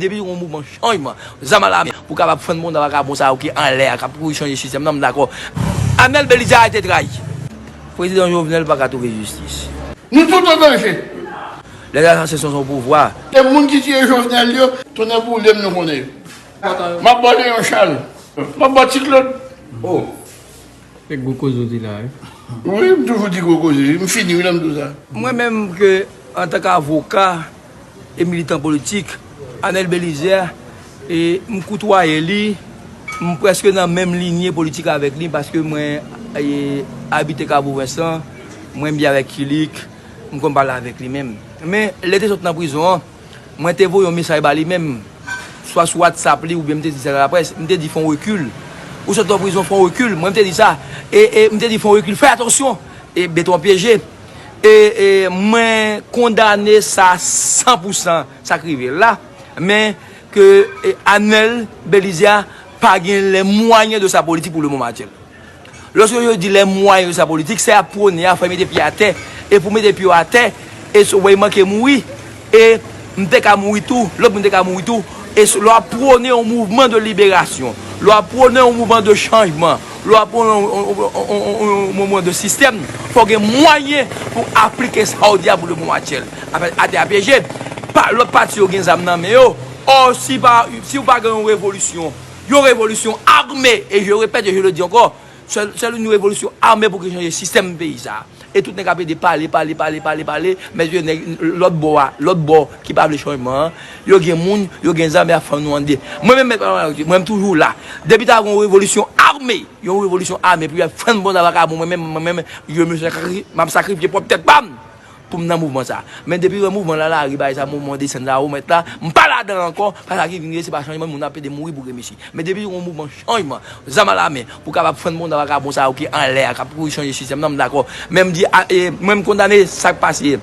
Depi yon mouvman chanjman zam alame pou kapab fann bonda vakabon sa yo ki anlè a kap kouri chanje sistèm nan m dakò. Amel Belizar te trayi. Prezidan Jovenel paka trouve jistis. Nou tout an danje. Les assassins sont au pouvoir. E moun ki tiye jovenel yo. Tonnè boulem nou konnen yo. Map baw leyon chal. Map baw ti klod oh. Se gwo koze ou di la wi. Wi m toujou di gwo koze wi, m fini wi lè m di w sa. Mwen menm ke antan k avoka e militan politik Anel Belizaire e m koutwaye li, m preske nan menm linye politik avèk li paske mwen e abite Kabo Vensan, mwen byen avèk Kilik, m konn pale avèk li menm. Men lè te sot nan prizon an. Mwen te voye yon mesaj ba li menm, swa sou WhatsApp li oubyen m te di sa nan laprès, m te di fè yon rekil. Ou sot nan prizon, fè yon rekil. Mwen m te di sa. E, e, m te di fè yon rekil, fè atansyon! E, beton pyeje. E, e, mwen kondane sa san pou san, sa k rive l la. Men, ke, e, Anel, Belizaire, pa gen lè mwayen de sa politik pou lemonm aktyèl. Loske yo di lè mwayen yo sa politik, sa yap pwone a fò yo mete pye atè, e pou mete pye w atè, e sou wè manke mouri, e m te ka mouri tou, lòt moun te ka mouri tou, e sou lè wap pwone yon mouvman de liberasyon, lè wap pwone yon mouvman de chanjman, lè wap pwone yon mouvman de sistèm, fò w gen mwayen pou aplike sa w di a pou le moman aktyèl. Atè a pyeje, lòt pati yo gen zam nan men yo, ò si w pa gen yon revolisyon, Yon revolisyon ame, e je repèt e je le di ankò, sèl yon revolisyon ame pou ki chanje sistèm peyi sa a. E tout nèg ap ede pale, pale, pale, pale, pale, men yo nèg lòt bò a, lòt bò ki pa vle chanjman an, yo gen moun, yo gen zam e ap fann nou an 2. Mwen menm Mèt Pamela Loutier, mwen menm toujou la. Depi ta gen yon revolisyon ame, yon revolisyon ame pou yo al fann bon nan vakabon mwen menm, mwen menm, je me sakrifie, m ap sakrifye pwòp tèt pa m! poum nan mouvman sa men depi wè mouvman lalari bay sa mouvman desann sa ou mèt la m pa ladan ankò pas sa ki vin ye se pa chanjman moun ap pede mouri pou gremesi men depi gon mouvman chanjman zam a la men pou kapab fann bonda vakabon sa yo ki anlè a kap kouri chanje sistèm nan m dakò men m di mwen m kondane sak pase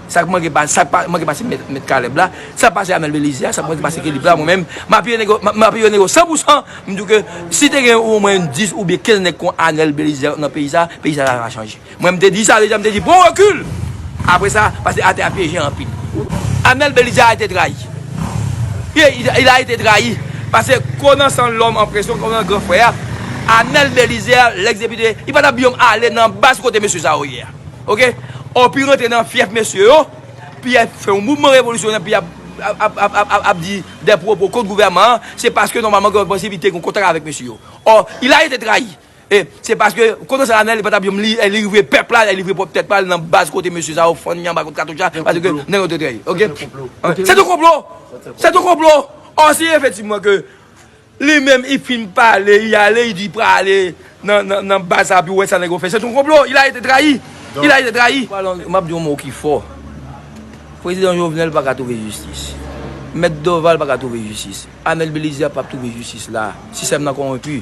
sak manke pase sak pa manke pase mèt kalèb la sak pase amèl belize a sak manke pase kilip la mwen menm m apiye nèg yo m apiye nèg yo san pou san m di w ke si te gen omwen 10 oubyen 15 nèg kon anèl belize nan peyi sa peyi sa ta chanje. Mwen m te di sa deja m te di pran rekil apre sa pase atè a pyeje anpil Amel Belizaire a ete trayi wi il a ete trayi pase konan san lòm an presyon konan gran frè a Amel Belizaire lèx depite li pa tap biom ale nan baz kote mesye sa yo ye a ok ò pi rantre nan fyèf mesye yo pi yap fè yon mouvman revolisyonè pi yap ap di dè pwopo kont gouvèman an se paske nòmalman gen yon prensip li te gen yon kontak avèk mesye yo ò il a ete trayi. E se paske kote sa anel li patap jom li e li livre pèp la e li livre pwòp tèt pal nan baz kote mesye sa yo fann li anba kout katouch la pase ke nèg yo te trèy ok se te konplo se te konplo ò si efetivman ke li menm i fin pale i ale i di prale nan baz sa pou wè sa nèg yo fè se te konplo il a ete trayi il a ete trayi map di yon mo ki fò prezidan jovenel paka twouve jistis mèt doval paka twouve jistis anel belize a pap twouve jistis la sistèm nan konwenpi.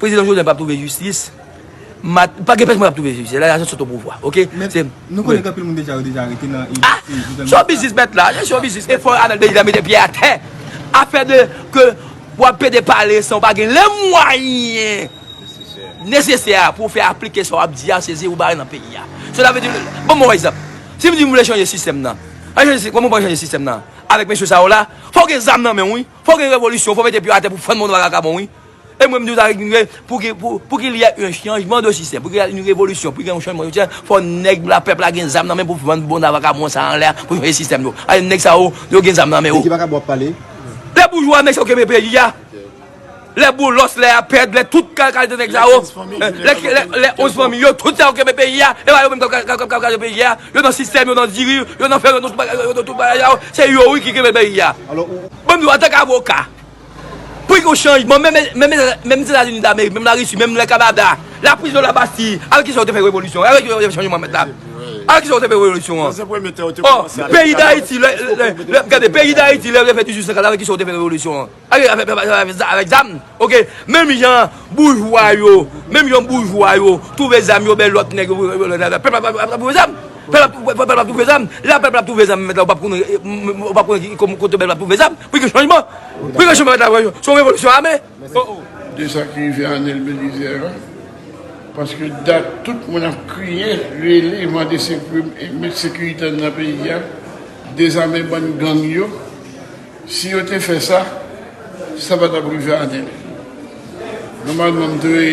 Prezidan Jovenel pap trouve jistis. Pa gen pèsonn ki pap trouve jistis. Lè la jistis sot o pouvwa. Ok. Nou konnen anpil moun deja yo deja arete nan e jistis. Son biznis mèt la. Son biznis. E fò Anel Belizaire mete pye a tè. Afè de ke wap pede pale san ou pa gen le mwayen nesesè a pou ou fè aplike sa wap di a se ze ou bare nan peyi a. Sou ta vle di. Banm yon egzanp. Si m di m vle chanje sistèm nan. An chanje sistèm. Kòman ou pral chanje sistèm nan. Avèk mesye sa yo la. Fò ou gen zam nan men ou wi. Fò gen revolisyon, fò mete pye atè pou fann monwa vakabon wi. E mwen m di w sa ki knke pou ki pou pou ki l yè yn chanjman de sistèm, pou ki yè yn revolisyon, pou ki gen yon chanjman sitèm, fò nèg la pèp la gen zam nan men pou fann bonwa vakabon sa anlè a pou chanje sistèm yo. Alè nèg sa yo, yo gen zam nan men De yo. ki vakabon w ap pale? De boujwa mesye yo kenbe peyi a. Lè boulos, lè apèd, lè tout kalite nèg sa yo, lè onz fanmi yo, tout sa yo kenbe peyi a, e pa yo menm kap kraze peyi a, yo nan sistèm, yo nan diri, yo nan fè, yo nan tout bagay, yo nan tout bagay sa yo, se yo wi ki kenbe peyi a. Banm di w antank avoka, pou gen yon chanjman menm Zetazini Damerik, menm Larisi, menm lè Kanada, laprizon labasti, avèk kisa yo te fè revolisyon an, avèk kisa yo te fè chanjman mèt la, avèk kisa yo te fè revolisyon an? Ò, peyi Dayiti, gade, peyi Dayiti lè yo te fè 1850 avèk kisa yo te fè revolisyon an? Avèk zam ok menm jan boujwa yo menm jan boujwa yo twouve zam yo bay lòt nèg yo pèp la ap twouve zam pèp la ap twouve zam lè pèp la ap twouve zam mèt la ou pap konnen ou pap konnen kote pèp la ap twouve zam pou gen chanjman pou gen chanjman mèt la se yon revolisyon ame oh oh. De sa ki rive Anel Belizè a paske dat tout moun ap kriye rele mande sekou met sekirite nan peyi a dezame bann gang yo Si yo te fè sa, sa pa t ap rive Anèl. Nòmalman m dwe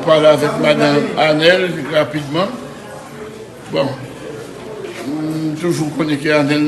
pale avèk madan Anèl rapidman. Bon, m toujou konnen ke Anèl.